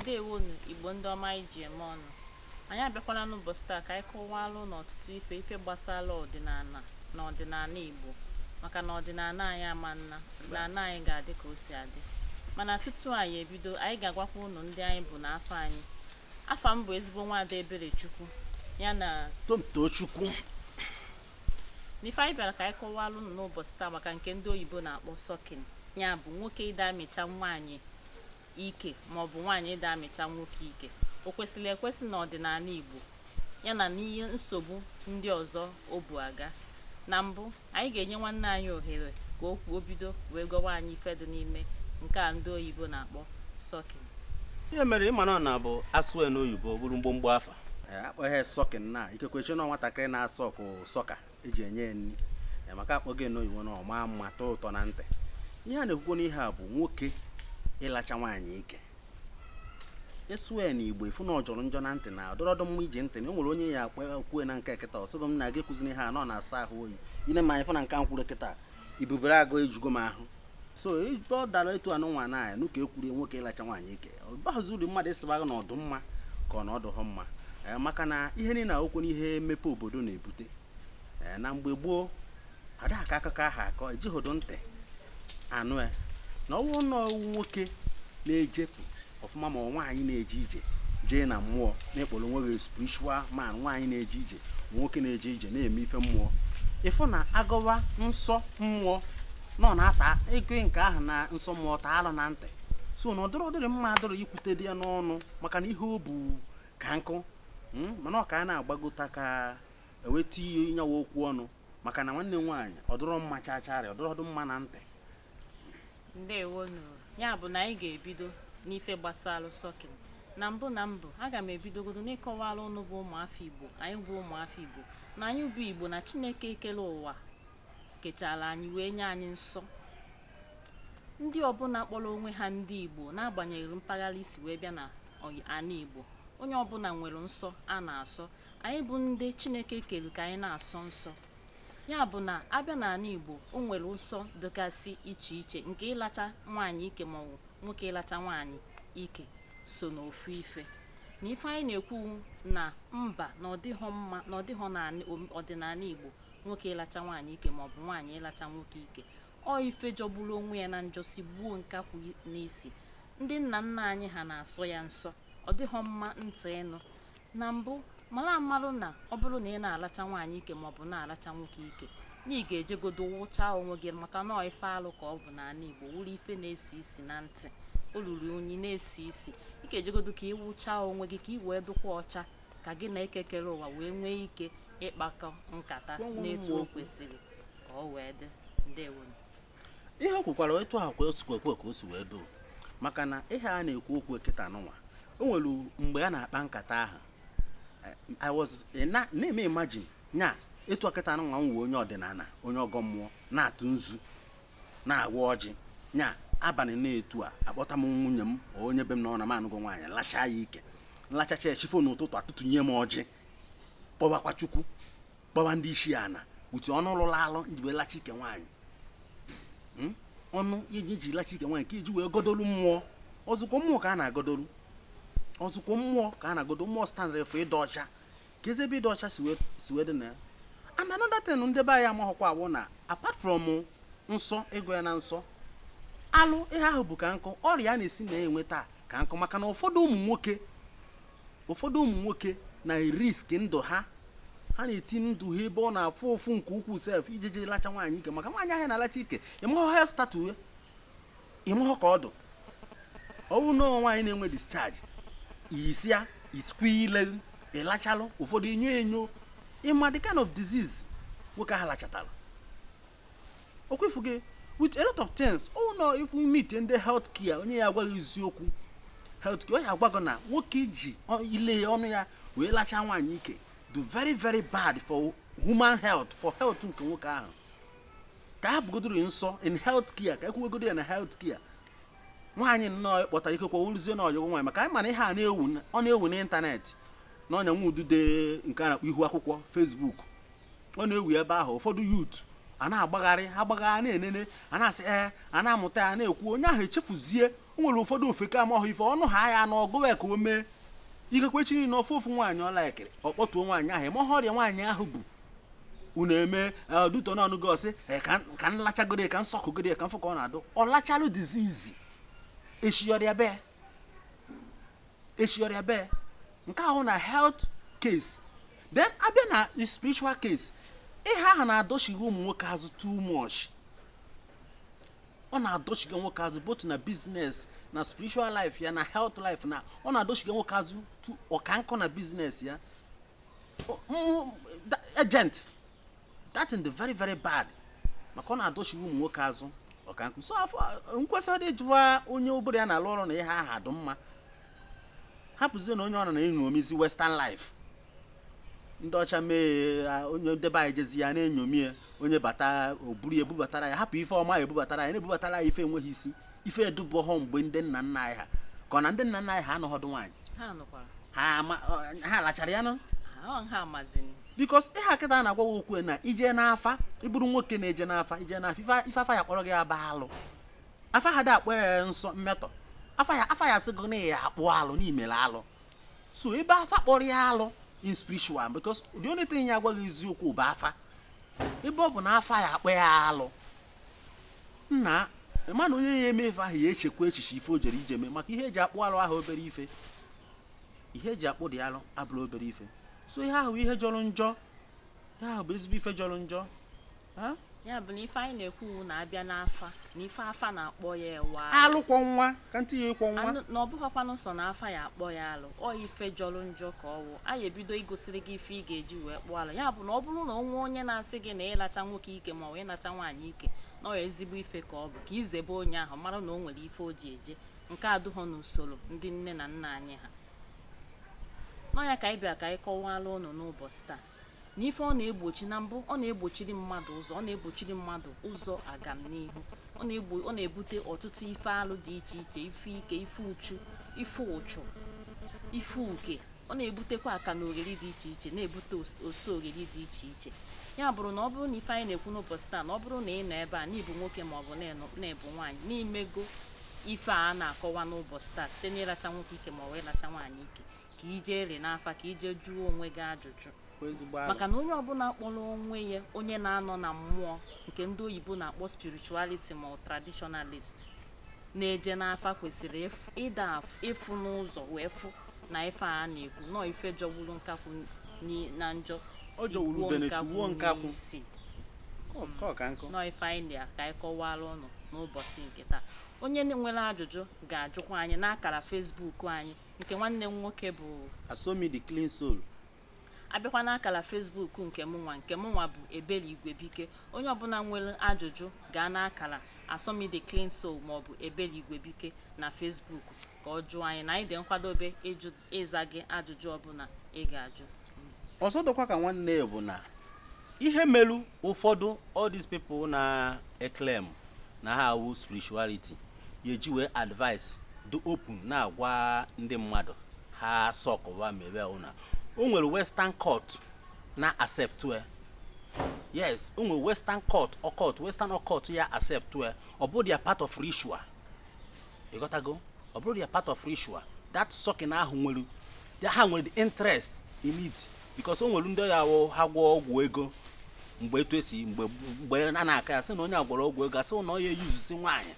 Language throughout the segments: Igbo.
ndewonu igbo ndị ọma anyị ji eme ọnụ anyị abịakwala n'ụbọchị taa ka anyị kọwalụ unu ọtụtụ ife ife gbasara ọdịnala na ọdịnala igbo maka na ọdịnala anyị ama ana ọdịnala anyị ga-adị ka o si adị mana tutu anyị ebido anyị ga-agwakwa ụnụ ndị anyị bụ na afa anyị afa m bụ ezigbo nwaada Eberechukwu ya na Tochukwu n'ife anyị bịara ka anyị kọwalụ unu n'ụbọchị taa maka nke ndị oyibo na-akpọ sucking ya bụ nwoke ịda amịcha nwaanyị ike ma ọ bụ nwaanyị ịda amịcha nwoke ike o kwesịrị ekwesị na ọdịnala Igbo yana n'ihe nsogbu ndị ọzọ o bu aga na mbụ anyị ga-enye nwanne anyị ohere ka o kwuo bido wee gwawa anyị ife dị n'ime nke a ndị oyibo na-akpọ sucking ihe mere ị ma na ọ na-abụ asụọ ya n'oyibo ọ bụrụ mgbomgbo afa Eh, akpọgo ya sucking na ikekwe eche na nwatakịrị na-asuck sucker eji enye ya nri Eh, maka akpọgo ya n'oyibo na ọ maa mma tọọ ụtọ na ntị ihe a na-ekwukwo n'ihe a bụ nwoke ịlacha nwaanyị ike ị sụọ ya na igbo ị fụ na ọ jọrọ njọ na ntị na ọ dụrọdụ mma iji ntị anụ o nwere onye ya akpa kwue na nke kịta ọ sịgo m na gị ekwuzina ya na ọ na-asọ ahụ oyi i nee m anya fụ na nke m kwuru kịta ibubere agụ ejugo m ahụ so ebe ọ dara etu anụnwa na a ya-anụ ka ekwurie nwoke ịlacha nwaanyị ike ọ baghịzi uru mmadụ ịsịba gị na ọ dụ mma ka ọ na ọ dụghọ mma Eh, maka na ihe niile a wụkwanụ ihe mmepe obodo na-ebute Eh, na mgbe gboo ada akọ akụkọ ahụ akọ ejihodo ntị anụ ya na ọ wụ nọ nwoke na-ejepụ ọfụma ma nwaanyị na-eje ije jee na mmụọ na ị kpọrọ onwe gị spiritual man nwaanyị na-eje ije nwoke na-eje ije na-eme ife mmụọ ị fụ na agọwa nsọ mmụọ nọ na-ata ego nke ahụ na nsọ mmụọ taa alụ na ntị so na ọ dịrọ ọ dịrọ mma adịrọ ekwutedị ya n'ọnụ maka na ihe o bu ka nkụ hmm, mana ọ ka a na-agbagota ka eweta ihe nyawa okwu ọnụ maka na nwanne m nwaanyị ọ dụrọ mma chacharị ọ dụrọdụ mma na ntị ndewonu ya bụ na anyị ga-ebido n'ife gbasara sucking na mbụ na mbụ aga m ebidogodo n'ịkọwara ụnụ bụ ụmụafọ igbo anyị bụ ụmụafọ igbo na anyị bụ igbo na chineke kere ụwa kechara anyị wee nye anyị nsọ ndị ọbụla kpọrọ onwe ha ndị igbo n'agbanyeghị mpaghara i si wee bịa na ala igbo onye ọbụla nwere nsọ a na-asọ anyị bụ ndị chineke kere ka anyị na-asọ nsọ ya bụ na abịa n'ala igbo o nwere nsọ dịgasị iche iche nke ịlacha nwaanyị ike maọbụ nwoke ịlacha nwaanyị ike so n'ofu ife na ife anyị na-ekwu na mba na ọ dịghọ mma na ọ dịghọ na ọdịnala igbo nwoke ịlacha nwaanyị ike maọbụ nwaanyị ịlacha nwoke ike ọ ife jọgburu onwe ya na njọ sigbuo nkakwụ n'isi ndị nna nna anyị ha na-asọ ya nsọ ọ dịghọ mma ntị ịnụ na mbụ mara amalụ na ọ bụrụ na ị na-alacha nwaanyị ike maọbụ na-alacha nwoke ike na ị ga-ejegodo wụchaa onwe gị maka na ife alụ ka ọ bụ n'ala Igbo wụrụ ife na-esi isi na ntị o ruru unyi na-esi isi ị ga-ejegodo ka ị wụchaa onwe gị ka ị wee dụkwa ọcha ka gị na Eke kere ụwa wee nwee ike ịkpakọ nkata n'etu o kwesịrị ka o wee dị ndewonu ihe o kwukwara etu ahụ ka o sikwa ekwe ka o si wee dụ maka na ihe a na-ekwu okwu kịta nụwa o nwere mgbe a na-akpa nkata ahụ eh, I was eh, na- na-eme imagine nya etu a kịta nụwa m wụ onye ọdịnala onye ọgọ mmụọ na-atụ nzu na-agwa ọjị nya abalị n'etu a akpọta m nwunye m ọ onye be m na ọ na m anụgo nwaanyị lachaa ya ike nlachacha ya chi fo n'ụtụtụ atụtụnye m ọjị kpọbakwa Chukwu kpọba ndị isi ana ụdị ọnụ lụrụ alụ i ji wee lachaa ike nwaanyị hmm? ọnụ i ji i ji lachaa ike nwaanyị ka i ji wee godolu mmụọ ọzụkwa mmụọ ka a na-agodolu ọzụkwa mmụọ ka a na-agodo mmụọ standard of ịdụ ọcha ka ezi ebe ịdụ ọcha si wee dị na ya and another thing ndị be anyị amaghọkwa wụ na apart from nsọ ego ya na nsọ alụ ihe ahụ bụ ka nkọ ọrịa a na-esi na ya enweta ka nkọ maka na ụfọdụ ụmụ nwoke ụfọdụ ụmụ nwoke na-erisk ndụ ha ha na-eti ndụ ha ebe ọ na-afụ ụfụ nke ukwuu sef iji jee lacha nwaanyị ike maka nwaanyị ahụ ị na-alacha ike ị mahọ health status ya ị mahọ ka ọ dụ ọ wụ na nwaanyị na-enwe discharge iyisia isikwa ile ị lachalụ ụfọdụ enyo enyo ị ma the kind of disease nwoke ahụ lachatara ọkwa ị fụgo with a lot of things oh no if we meet in the health care onye ya-agwa gị eziokwu health care ọ ya-agwa gị na nwoke iji ile ya ọnụ ya wee lachaa nwaanyị ike dụ very very bad for human health for health nke nwoke ahụ ka a hapụgodoro nsọ in health care ka e kwuwegodo ya na health care nwaanyị nnọọ ị kpọtara ikekwe wụrụzie na ọyị gị nwaanyị maka anyị ma na ihe a na-ewu ọ na-ewu n'ịntanetị na ọnya nwa udude nke a na-akpọ ihu akwụkwọ Facebook ọ na-ewu ebe ahụ ụfọdụ youth a na-agbagharị agbagharị na-enene ya na-asị ee a na-amụta ya na-ekwu onye ahụ echefuzie o nwere ụfọdụ ofeke amaghị ife ọ nụhaa ya na ọ gụwa ya ka o mee ikekwe echi niile ọ fụ ofu nwaanyị ọ likeri ọ kpọtuo nwaanyị ahụ ọ mahọ ọrịa nwaanyị ahụ bu n'ime due to na ọ nụgo ọ sị ka m lachagodo ka m suckịgodo ka m fụ ka ọ na-adụ ọ lachalụ disease echi ya ọ rịabe echi ya ọ rịabe nke ahụ na health case then a bịa na spiritual case ihe ahụ na-adọchiga ụmụ nwoke azụ too much ọ na-adọchiga nwoke azụ both na business na spiritual life ya na health life na ọ na-adọchiga nwoke azụ ọ ka nkọ na business ya O- mm, da- agent that is the very very bad maka ọ na-adọchiru ụmụ nwoke azụ ọka nkụ so nkwesịdị jụwa onye ọ bụrụ ya na-alụ ọrụ na ihe ahụ adị mma hapụzie na onye ọbụla na-eṅomizi western life ndị ọcha mee onye nde be anyị jezi ya na-eṅomi ya onye bata o buru ya ebubatara ya hapụ ife ọma ya ebubatara ya na-ebubatara ya ife enweghị isi ife adụbughọ mgbe ndị nna nna anyị ha ka ọ na ndị nna nna anyị ha anọghọdụ nwaanyị ha alachara ya no because ihe a kịta na-agwa gị okwu na i je n'afa ị bụrụ nwoke na-eje n'afa i je n'afa ife afa ya-akpọrọ gị bụ alụ afa adị akpọ ya nsọ mmetọ afa ya afa ya-asị gị na a ya-akpụ alụ na i mere alụ so ebe afa kpọrọ ya alụ in spiritual because the only thing ya-agwa gị eziokwu bụ afa ebe ọ bụ na afa ya-akpọ ya alụ nna mana onye ya-eme ife ahụ ya echekwa echiche ife o jere ije mee maka ihe e ji akpụ alụ awụ obere ife ihe e ji akpụdị alụ abụrọ obere ife so ihe ahụ ihe jọrọ njọ ihe ahụ bụ ezigbo ife jọrọ njọ ya bụ na ife anyị na-ekwu wụ na a bịa n'afa na ife afa na-akpọ ya wụ alụ kwọ nwa ka m tiye kwọ nwa na ọ bụghịkwanụ sọ na afa ya-akpọ ya alụ ọ ife jọrọ njọ ka ọ wụ anyị ebido igosiri gị ife ị ga-eji wee kpụọ alụ ya bụ na ọ bụrụ na o nwee onye na-asị gị na ịlacha nwoke ike ma ọ bụ ịlacha nwaanyị ike na ọ ezigbo ife ka ọ bụ ka i zebe onye ahụ mara na o nwere ife o ji eje nke adụghọ n'usoro ndị nne na nna anyị ha na ọ nya ka anyị bịa ka anyị kọwara ụnụ n'ụbọchị taa na ife ọ na-egbochi na mbụ ọ na-egbochiri mmadụ ụzọ ọ na-egbochiri mmadụ ụzọ agamnihu ọ na-egbo ọ na-ebute ọtụtụ ife alụ dị iche iche ife ike ife uchu ife ụchụ ife uke ọ na-ebutekwa akalogheri dị iche iche na-ebute os- oso ogheri dị iche iche ya bụrụ na ọ bụrụ na ife anyị na-ekwu n'ụbọchị taa na ọ bụrụ na ị nọ ebe a na ị bụ nwoke ma ọ bụ na-enọ- na ị bụ nwaanyị na i mego ife a na-akọwa n'ụbọchị taa site n'ịlacha nwoke ike ma ọ bụ ịlacha nwaanyị ike ka i jeri n'afa ka i je jụọ onwe gị ajụjụ maka na onye ọbụla kpọrọ onwe ya onye na-anọ na mmụọ nke ndị oyibo na-akpọ spirituality ma traditionalist na-eje n'afa kwesịrịdị ịfụ n'ụzọ wee fụ na ife a na-ekwu na ọ ife jọgburu nkakwụ na njọ sigbuo nkakwụ n'isi na ọ ife anyị na ka anyị kọwara ụnụ n'ụbọchị nke taa onye nwere ajụjụ ga-ajụkwa anyị n'akara Facebook anyị nke nwanne m nwoke bụ asomi the clean soul a bịakwa n'akara Facebook nke mụnwa nke mụnwa bụ ebele igwebike onye ọbụla nwere ajụjụ gaa n'akara asomi the clean soul maọbụ ebele igwebike na Facebook ka ọ jụọ anyị na anyị dị nkwadobe ịjụ ịza gị ajụjụ ọbụla ị ga-ajụ ọzọ dụkwa ka nwanne ya bụ na ihe melu ụfọdụ all these people na-eclaim na ha awụ spirituality ya eji wee advice dị open na-agwa ndị mmadụ ha sọkụwa mewe ụna o nwere western cult na-accept ya yes o nwere western cult western cult ya accept ya ọ bụrụ their part of ritual ịghọtago ọ bụrụ their part of ritual that sucking ahụ nwere ha nwere the interest in it because o nwere ndị ọ ya-awụ ha gwọọ ọgwụ ego mgbe etu esi mgbe mgbe a na-akọ ya sị na onye a gwọrọ ọgwụ ego a sị na ọ ya eyuzusi nwaanyị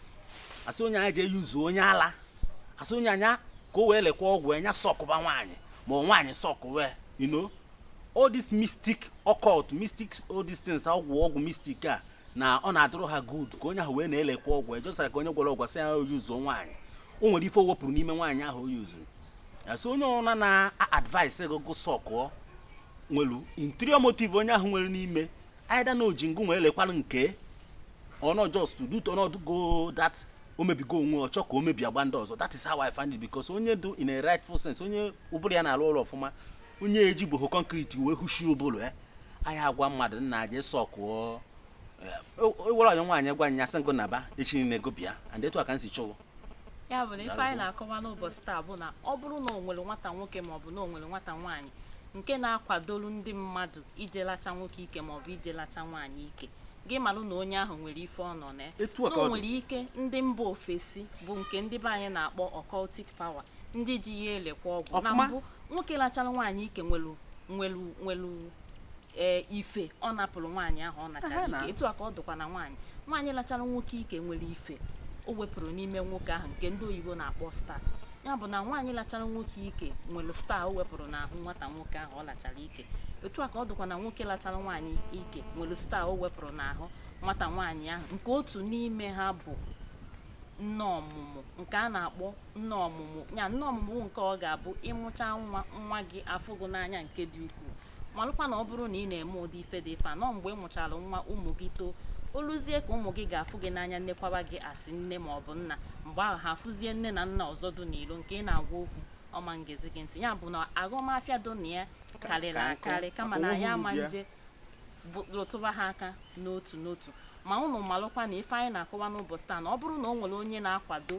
a sị onye a nya je eyuzu onye ala a sị onye a nya ka o wee lekwa ọgwụ nya sọkụba nwaanyị ma ọ nwaanyị sọkụwe you know all this mystic occult mystic all these things ọgwụ ọgwụ mystic a na ọ na-adụrụ ha good ka onye ahụ wee na-elekwa ọgwụ ejọsara ka onye gwọrọ ọgwụ sị ya oyuzuo nwaanyị o nwere ife o wepụrụ n'ime nwaanyị ahụ o yuzuru asị onye ọna na-advise gị gụ sọkụọ nwelu interior motive onye ahụ nwere n'ime either na o ji ngụ wee lekwara nke ọ nọ just to do to not go that o mebigo onwe ọ chọọ ka o mebi agba ndị ọzọ that is how I find it because onye dị in a rightful sense onye ụbụrụ ya na-alụ ọrụ ọfụma onye ejigboho concrete wee hụshi ụbụrụ ya anyị agwa mmadụ nya jee sọkụọ ewere eh, onye nwaanyị gwa nya sị ngụ naba echi niile gụ bịa and etu a ka m si chụwa ya bụ na ife anyị na-akọwa n'ụbọchị taa bụ na ọ bụrụ na o nwere nwata nwoke maọbụ na o nwere nwata nwaanyị nke na-akwadolu ndị mmadụ ije lacha nwoke ike maọbụ ije lacha nwaanyị ike gị malụ na onye ahụ nwere ife ọ nọ na ya na o nwere ike ndị mba ofesi bụ nke ndị be anyị na-akpọ occultic power ndị ji ya elekwa ọgwụ na mbụ nwoke lachara nwaanyị ike nwelu nwelu nwelu ee ife ọ napụrụ nwaanyị ahụ ọ nachara ike etu a ka ọ dụkwa na nwaanyị nwaanyị lachara nwoke ike nwere ife o wepụrụ n'ime nwoke ahụ nke ndị oyibo na-akpọ star ya bụ na nwaanyị lachara nwoke ike nwere star o wepụrụ n'ahụ nwata nwoke ahụ ọ lachara ike etu a ka ọ dụkwa na nwoke lachara nwaanyị ike nwere star o wepụrụ n'ahụ nwata nwaanyị ahụ nke otu n'ime ha bụ nne ọmụmụ nke a na-akpọ nne ọmụmụ ya nne ọmụmụ bụ nke ọ ga-abụ ịmụcha nwa nwa gị afụ gị n'anya nke dị ukwuu malụkwa na ọ bụrụ na ị na-eme ụdị ife dị ife a na mgbe ị mụchara nwa ụmụ gị too o luzie ka ụmụ gị ga-afụ gị n'anya nnekwaba gị asị nne ma ọ bụ nna mgbe ahụ ha afụzie nne na nna ọzọ dị n'ilo nke ị na-agwa okwu ọ ma ngezi gị ntị ya bụ na ọghọm afịa dị na ya karịrị akarị kama na ya ama nje lụtụba ha aka n'otu n'otu ma unu malụkwa na ife anyị na-akọwa n'ụbọchị taa na ọ bụrụ na o nwere onye na-akwado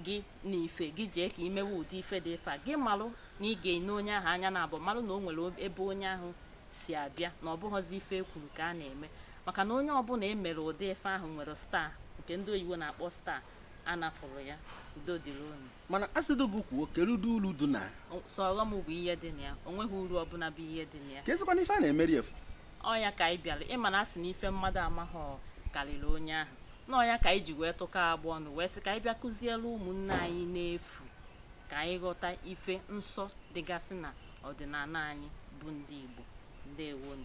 gị n'ife gị jee ka i mewe ụdị ife dị ife a gị malụ na ị ga-ene onye ahụ anya na abụ malụ na o nwere ebe onye ahụ si abịa na ọ bụghọzi ife e kwuru ka a na-eme maka na onye ọbụla e mere ụdị ife ahụ nwere star nke ndị oyibo na-akpọ star a napụrụ ya udo dịrị unu mana a sịdị gị kwuo kedu ụdị uru dị na sọ ọghọm bụ ihe dị na ya o nweghị uru ọbụla bụ ihe dị na ya ka ezikwana ife a na-emeri efu ọ nya ka anyị bịara ị ma na a sị na ife mmadụ amaghọ karịrị onye ahụ na ọ nya ka anyị ji wee tụkọ agbụ ọnụ wee sị ka anyị bịa kụziere ụmụnne anyị n'efu ka anyị ghọta ife nsọ dịgasị na ọdịnala anyị bụ ndị Igbo ndewonu